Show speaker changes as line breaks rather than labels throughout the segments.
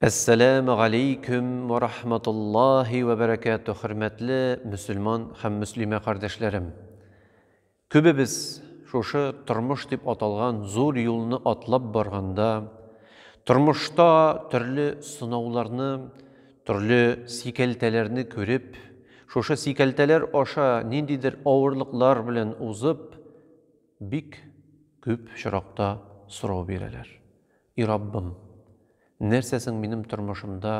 Әссәләмү галәйкүм вә рахматуллаһи вә бәрәкәтүһ, хөрмәтле мөселман һәм мөслимә кардәшләрем! Күбебез шушы тормыш дип аталган зур юлны атлап барганда, тормышта төрле сынауларны, төрле сикәлтәләрне күреп, шушы сикәлтәләр аша ниндидер авырлыклар белән узып, бик күп очракта сорау бирәләр. И Раббым, нәрсә соң минем тормышымда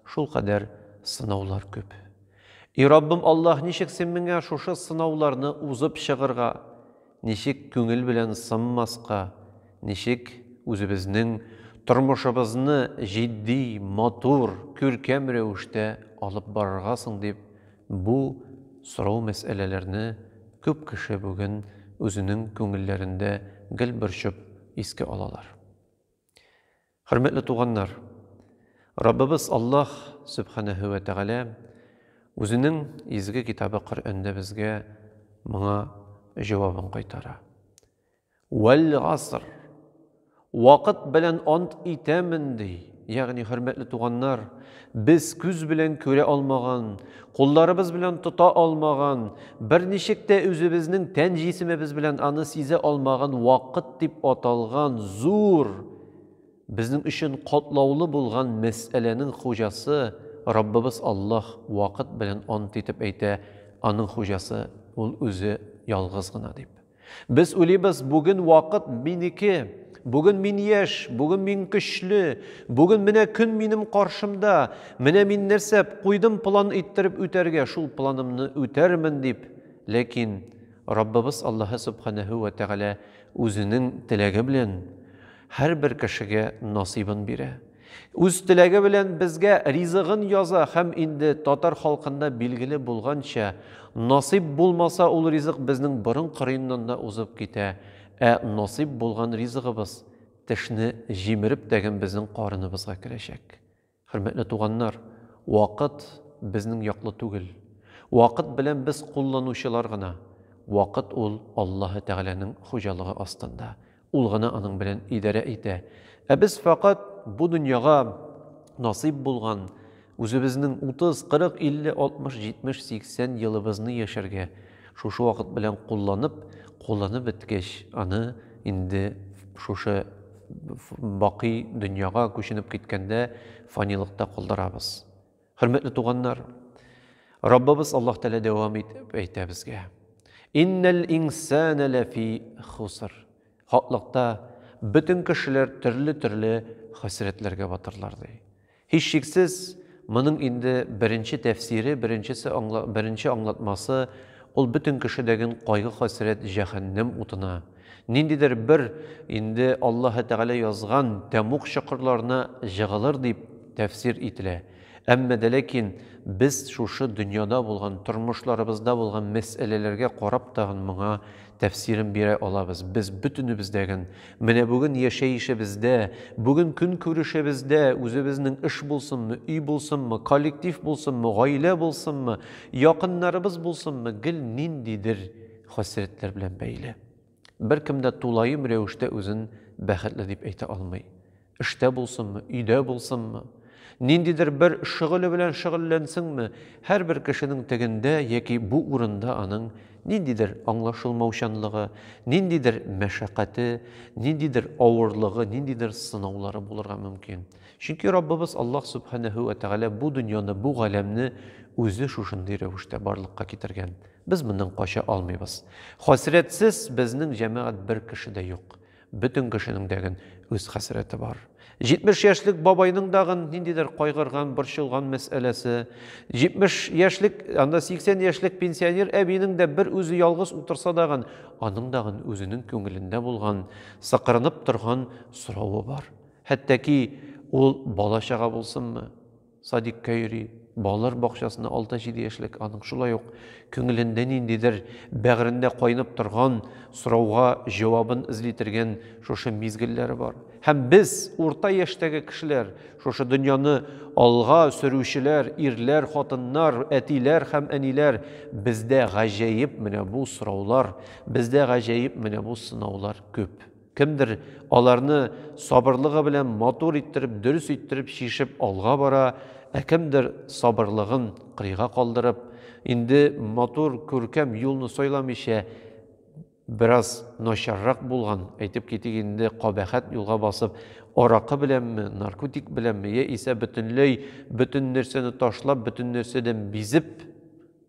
шулкадәр сынаулар күп? И Раббым Аллаһ, ничек Син миңа шушы сынауларны узып чыгырга, ничек күңел белән сынмаска, ничек үзебезнең тормышыбызны җитди, матур, күркәм рәвештә алып барырга соң дип, бу сорау-мәсьәләләрне күп кеше бүген үзенең күңелләрендә гел борчып искә алалар. Хөрмәтле туганнар, Раббыбыз Аллаһ Сөбхәнәһү вә Тәгалә Үзенең изге китабы Коръәндә безгә моңа җавабын кайтара. Вәл-гаср, вакыт белән ант итәмен, ди. Ягъни, хөрмәтле туганнар, без күз белән күрә алмаган, кулларыбыз белән тота алмаган, берничек тә үзебезнең тән җисемебез белән аны сизә алмаган вакыт дип аталган зур, безнең өчен катлаулы булган мәсьәләнең хуҗасы Раббыбыз Аллаһ вакыт белән ант итеп әйтә, аның хуҗасы ул үзе ялгыз гына дип. Без уйлыйбыз, бүген вакыт минеке, бүген мин яшь, бүген мин көчле, бүген менә көн минем каршымда, менә мин нәрсә куйдым план иттереп үтәргә, шул планымны үтәрмен дип. Ләкин Раббыбыз Аллаһы Субханәһү вә Тәгалә үзенең теләге белән һәрбер кешегә насыйбын бирә. Үз теләге белән безгә ризыгын яза һәм инде татар халкында билгеле булганча, насыйп булмаса ул ризык безнең борын кырыеннан да узып китә, ә насыйп булган ризыгыбыз тешне җимереп тәген безнең карыныбызга керәчәк. Хөрмәтле туганнар, вакыт безнең яклы түгел. Вакыт белән без кулланучылар гына. Вакыт ул Аллаһы Тәгаләнең хуҗалыгы астында. Ул гына аның белән идарә итә. Ә без фәкать бу дөньяга насыйп булган, үзебезнең утыз, кырык, илле, алтмыш, җитмеш, сиксән елыбызны яшәргә, шушы вакыт белән кулланып, кулланып беткәч, аны инде шушы бакый дөньяга күченеп киткәндә фанилыкта калдырабыз. Хөрмәтле туганнар, Раббыбыз Аллаһ Тәгалә дәвам итеп әйтә безгә. Иннәл инсана ләфи хуср. Хаклыкта бөтен кешеләр төрле-төрле хәсрәтләргә батырлар ди. Һичшиксез, моның инде беренче тәфсире, беренчесе аңла, беренче аңлатмасы ул бөтен кешедәген кайгы-хәсрәт җәһәннәм утына. Ниндидер бер инде Аллаһы Тәгалә язган тәмуг чокырларына җыгылыр дип тәфсир ителә. Әмма дә ләкин без шушы дөньяда булган, тормышларыбызда булган мәсьәләләргә карап тагын моңа тәфсирен бирә алабыз. Без бөтенебездәген, менә бүген яшәешебездә, бүген көнкүрешебездә, үзебезнең эш булсынмы, өй булсынмы, коллектив булсынмы, гаилә булсынмы, якыннарыбыз булсынмы, гел ниндидер хәсрәтләр белән бәйле. Беркем дә тулаем рәвештә үзен бәхетле дип әйтә алмый. Эштә булсынмы, өйдә булсынмы, ниндидер бер шөгыле белән шөгыльләнсенме, һәрбер кешенең тегендә яки бу урында аның ниндидер аңлашылмаучанлыгы, ниндидер мәшәкате, ниндидер авырлыгы, ниндидер сынаулары булырга мөмкин. Чөнки Раббыбыз Аллаһ Субханәһү вә Тәгалә бу дөньяны, бу галәмне үзе шушындый рәвештә барлыкка китергән. Без моннан кача алмыйбыз. Хәсрәтсез безнең җәмәгать бер кеше дә юк. Бөтен кешенең дәген үз хәсрәте бар. 70 яшьлек бабайның дагын ниндидер кайгырган, борчылган мәсьәләсе, 70 яшьлек, анда 80 яшьлек пенсионер әбинең дә бер үзе ялгыз утырса дагын, аның дагын үзенең күңелендә булган, сыкырынып торган соравы бар. Хәтта ки ул бала-чага булсынмы? Садикка йөри, балалар бакчасына алты-җиде яшьлек аның шулай ук күңелендә ниндидер, бәгырендә кайнап торган сорауга җавабын эзли тергән шушы мизгелләре бар. Һәм без, урта яшьтәге кешеләр, шушы дөньяны алга сөрүчеләр, ирләр, хатыннар, әтиләр һәм әниләр, бездә гаҗәеп менә бу сораулар, бездә гаҗәеп менә бу сынаулар күп. Кемдер аларны сабырлыгы белән матур иттереп, дөрес иттереп чишеп алга бара, ә кемдер сабырлыгын кырыйга калдырып, инде матур, күркәм юлны сайламыйча, бераз начаррак булган, әйтеп китик инде, кабәхәт юлга басып, аракы беләнме, наркотик беләнме, яисә бөтенләй бөтен нәрсәне ташлап, бөтен нәрсәдән бизеп,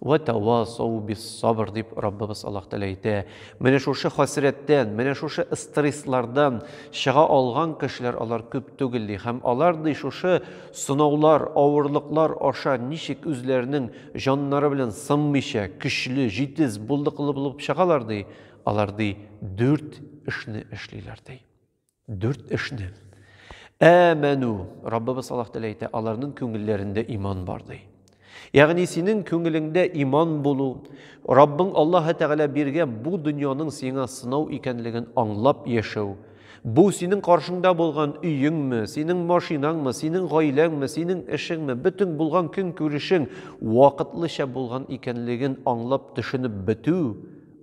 Вә тәвасау бис-сабр, дип Раббыбыз Аллаһ Тәгалә әйтә. Менә шушы хәсрәттән, менә шушы стресслардан чыга алган кешеләр алар күп түгел, ди. Һәм алар, ди, шушы сынаулар, авырлыклар аша ничек үзләренең җаннары белән сынмыйча, көчле, җитез, булдыклы булып чыгалар, ди, алар, ди, дүрт эшне эшлиләр, ди. Дүрт эшне. Әмәну, Раббыбыз Аллаһ Тәгалә әйтә, аларның күңелләрендә иман бар ди. Ягъни синең күңелеңдә иман булу, Раббың Аллаһ Тәгалә биргән бу дөньяның сиңа сынау икәнлеген аңлап яшәү, Бу синең каршыңда булган өеңме, синең машинаңмы, синең гаиләңме, синең эшеңме, бөтен булган көн күрешең вакытлыча булган икәнлеген аңлап төшенеп бетү,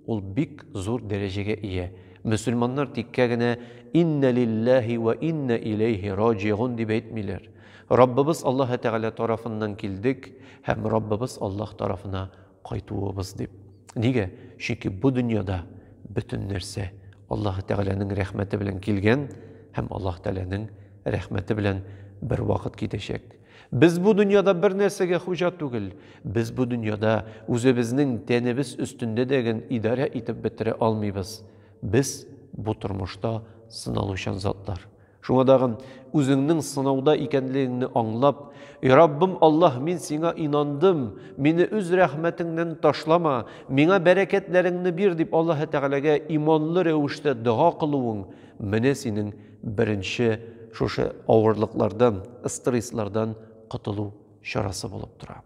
Ул бик зур дәрәҗәгә ия. Мөселманнар тиккә генә Иннә лилләһи вә иннә иләйһи раҗигун дип әйтмиләр. Раббыбыз Аллаһы Тәгалә тарафыннан килдек һәм Раббыбыз Аллаһ тарафына кайтуыбыз дип. Нигә? Чөнки бу дөньяда бөтен нәрсә Аллаһы Тәгаләнең рәхмәте белән килгән һәм Аллаһ Тәгаләнең рәхмәте белән бервакыт китәчәк. Без бу дөньяда бер нәрсәгә хуҗа түгел. Без бу дөньяда үзебезнең тәнебез өстендә дә ген идарә итеп бетерә алмыйбыз. Без бу тормышта сыналучан затлар. Шуңа дагын, үзеңнең сынауда икәнлегеңне аңлап, И Раббым Аллаһ, мин Сиңа инандым, мине үз рәхмәтеңнән ташлама, миңа бәрәкәтләреңне бир, дип Аллаһы Тәгаләгә иманлы рәвештә дога кылуың, менә синең беренче шушы авырлыклардан, стресслардан котылу чарасы булып тора.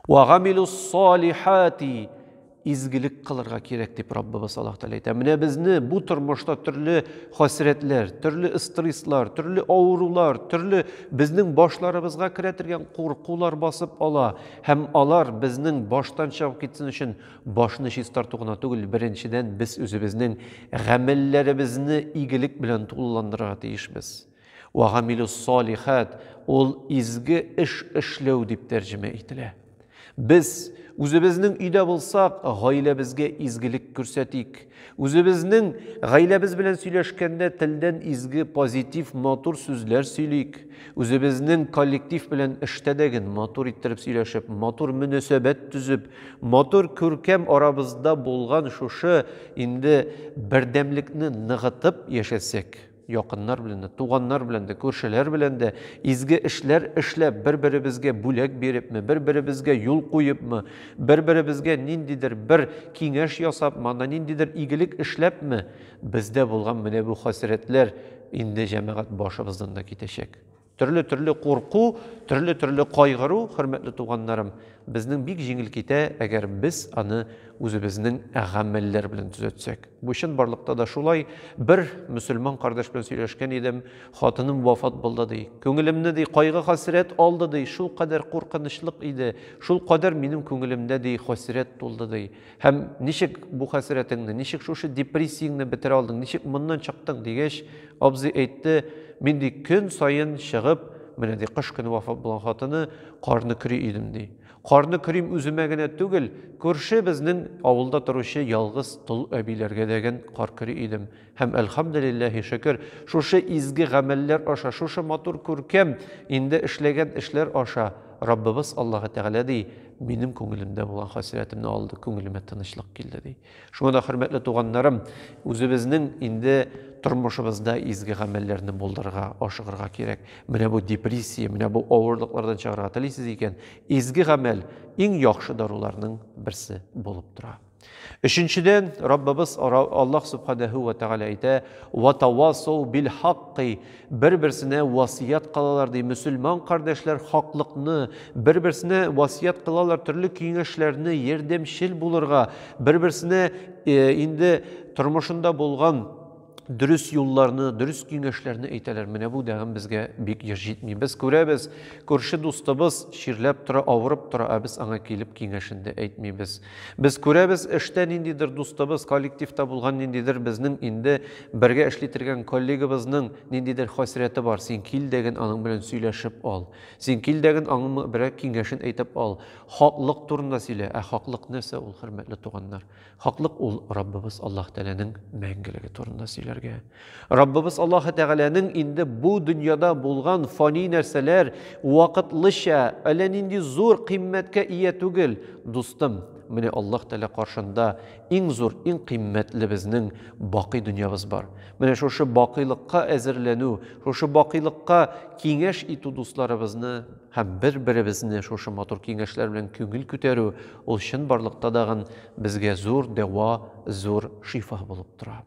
Вагамилус салихати изгелек кылырга кирәк дип Раббыбыз Аллаһ Тәгалә әйтә. Менә безне бу тормышта төрле хәсрәтләр, төрле стресслар, төрле авырулар, төрле безнең башларыбызга керә торган куркулар басып ала һәм алар безнең баштан чыгып китсен өчен Башны чистарту гына түгел, беренчедән, без үзебезнең гамәлләребезне игелек белән тулыландырырга тиешбез. Ва гамилус салихат ул изге эш эшләү дип тәрҗемә ителә. Без үзебезнең өйдә булсак, гаиләбезгә изгелек күрсәтик. Үзебезнең гаиләбез белән сөйләшкәндә телдән изге, позитив, матур сүзләр сөйлик. Үзебезнең коллектив белән эштә дә ген матур иттереп сөйләшеп, матур мөнәсәбәт төзеп, матур күркәм арабызда булган шушы инде бердәмлекне ныгытып яшәсәк, Якыннар белән дә, туганнар белән дә, күршеләр белән дә изге эшләр эшләп, бер-беребезгә бүләк бирепме, бер-беребезгә юл куепмы, бер-беребезгә ниндидер бер киңәш ясапмы, анда ниндидер игелек эшләпме, бездә булган менә бу хәсрәтләр инде, җәмәгать, башыбыздан да китәчәк. Төрле-төрле курку, төрле-төрле кайгыру, хөрмәтле туганнарым, безнең бик җиңел китә, әгәр без аны үзебезнең гамәлләр белән төзәтсәк. Бу чынбарлыкта да шулай. Бер мөселман кардәш белән сөйләшкән идем, хатыным вафат булды, ди. Күңелемне, ди, кайгы-хәсрәт алды, ди, шулкадәр куркынычлык иде, шулкадәр минем күңелемдә, ди, хәсрәт тулды, ди. Һәм ничек бу хәсрәтеңне, ничек шушы депрессияңне бетерә алдың, ничек моннан чыктың дигәч, абзый әйтте, мин ди көн саен чыгып, менә ди кыш көне вафат булган хатыны карны көри идем ди. Карны көрим үземә генә түгел, күрше безнең авылда торучы ялгыз тол әбиләргә дәген кар көри идем. Һәм, әлхәмделилләһи, шөкер, шушы изге гамәлләр аша, шушы матур күркәм инде эшләгән эшләр аша Раббыбыз Аллаһы Тәгалә ди, минем күңелемдә булган хәсрәтемне алды, күңелемә тынычлык килде ди. Шуңа да, хөрмәтле туганнарым, үзебезнең инде тормышыбызда изге гамәлләрне булдырырга, ашыгырга кирәк. Менә бу депрессия, менә бу авырлыклардан чыгарга телисез икән, изге гамәл иң яхшы даруларның берсе булып тора. Өченчедән, Раббыбыз Аллаһ Субханәһү вә Тәгалә әйтә, «Ва тавасау бил хакки» бер-берсенә васыят кылалар ди. Мөселман кардәшләр хаклыкны, бер-берсенә васыят кылалар төрле киңәшләрне, ярдәмчел булырга, бер-берсенә э, инде тормышында булган дөрес юлларны, дөрес киңәшләрне әйтәләр. Менә бу дәгым безгә бик еш җитми. Без күрәбез, күрше дустыбыз чирләп тора, авырып тора, ә без аңа килеп киңәшен дә әйтмибез. Без күрәбез, эштә ниндидер дустыбыз, коллективта булган ниндидер безнең инде бергә эшли торган коллегабызның ниндидер хәсрәте бар. Син кил дәген аның белән сөйләшеп ал. Син кил дәген аңа берәр киңәшен әйтеп ал. Хаклык турында сөйлә. Ә хаклык нәрсә ул, хөрмәтле туганнар? Хаклык ул Раббыбыз Аллаһ Тәгаләнең мәңгелеге турында сөйләргә. Раббыбыз Аллаһ Тәгаләнең инде бу дөньяда булган фани нәрсәләр вакытлыча әллә нинди зур кыйммәткә ия түгел, дустым. Менә Аллаһ Тәгалә каршында иң зур, иң кыйммәтле безнең бакый дөньябыз бар. Менә шушы бакыйлыкка әзерләнү, шушы бакыйлыкка киңәш итү дусларыбызны Һәм бер-беребезне шушы матур киңәшләр белән күңел күтәрү, ул чынбарлыкта дагын безгә зур дәва, зур шифа булып тора.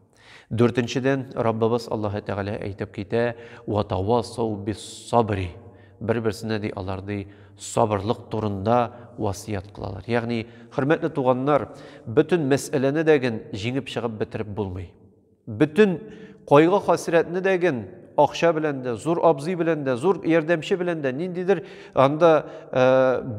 Дүртенчедән, Раббыбыз Аллаһы Тәгалә әйтеп китә, Ватавасау бис-сабри. Бер-берсенә, ди, алар, ди, сабырлык турында васыять кылалар. Ягъни, хөрмәтле туганнар, бөтен мәсьәләне дә ген җиңеп чыгып бетереп булмый. Бөтен кайгы-хәсрәтне дә ген акча белән дә, зур абзый белән дә, зур ярдәмче белән дә, ниндидер анда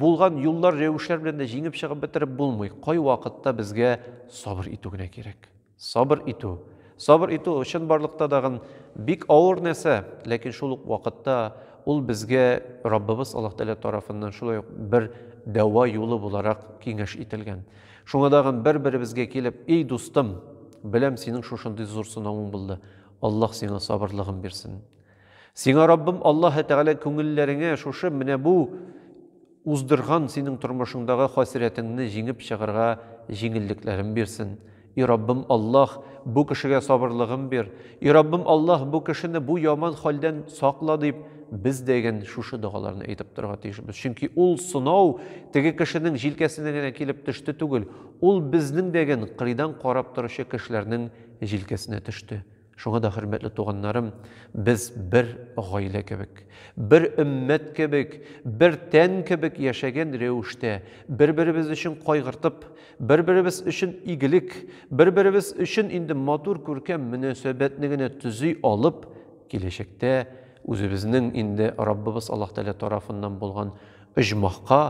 булган юллар, рәвешләр белән дә җиңеп чыгып бетереп булмый. Кайвакытта безгә сабыр итү генә кирәк. Сабыр итү. Сабыр итү чын барлыкта дагын бик авыр нәрсә, ләкин шул ук вакытта ул безгә Раббыбыз Аллаһ Тәгалә тарафыннан шулай ук бер дәва юлы буларак киңәш ителгән. Шуңа тагын бер-беребезгә килеп, Ий, дустым, беләм, синең шушындый зур сынавың булды, Аллаһ сиңа сабырлыгын бирсен. Сиңа Раббым Аллаһы Тәгалә күңелләреңә шушы менә бу уздырган синең тормышыңдагы хәсрәтеңне җиңеп чыгарга җиңеллекләрен бирсен. И Раббым Аллаһ, бу кешегә сабырлыгын бир. И Раббым Аллаһ, бу кешене бу яман хәлдән сакла дип, без дәген шушы догаларны әйтеп торырга тиешбез. Чөнки ул сынау теге кешенең җилкәсенә генә килеп төште түгел, ул безнең дәген кырыйдан карап торучы кешеләрнең җилкәсенә төште. Шуңа да, хөрмәтле туганнарым, без бер гаилә кебек, бер өммәт кебек, бер тән кебек яшәгән рәвештә, бер-беребез өчен кайгыртып, Бер-беребез өчен игелек, бер-беребез өчен инде матур күркәм мөнәсәбәтне генә төзи алып, киләчәктә үзебезнең инде Раббыбыз Аллаһ Тәгалә тарафыннан булган оҗмахка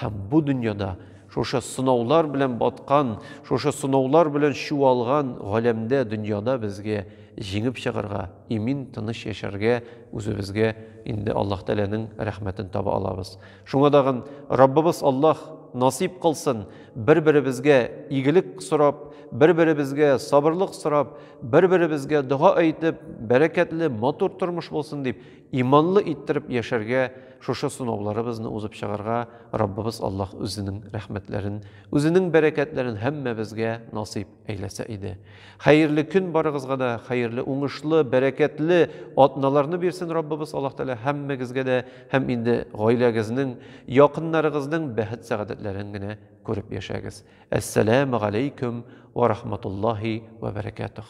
һәм бу дөньяда шушы сынаулар белән баткан, шушы сынаулар белән чуалган галәмдә, дөньяда безгә җиңеп чыгарга, имин, тыныч яшәргә, үзебезгә инде Аллаһ Тәгаләнең рәхмәтен таба алабыз. Шуңа дагын Раббыбыз Аллаһ насыйп кылсын, бер-беребезгә игелек сорап, бер-беребезгә сабырлык сорап, бер-беребезгә дога әйтеп, бәрәкәтле, матур тормыш булсын дип, иманлы иттереп яшәргә, шушы сынауларыбызны узып чыгарга Раббыбыз Аллаһ үзенең рәхмәтләрен, үзенең бәрәкәтләрен һәммәбезгә насыйп Әйләсә иде. Хәерле көн барыгызга да, хәерле, уңышлы, бәрәкәтле атналарны бирсен Раббыбыз Аллаһ Тәгалә һәммәгезгә дә һәм инде гаиләгезнең, якыннарыгызның бәхет-сәгадәтләрен генә күреп яшәгез. Әссәламу галәйкүм ва рахматуллаһи ва бәрәкәтүх.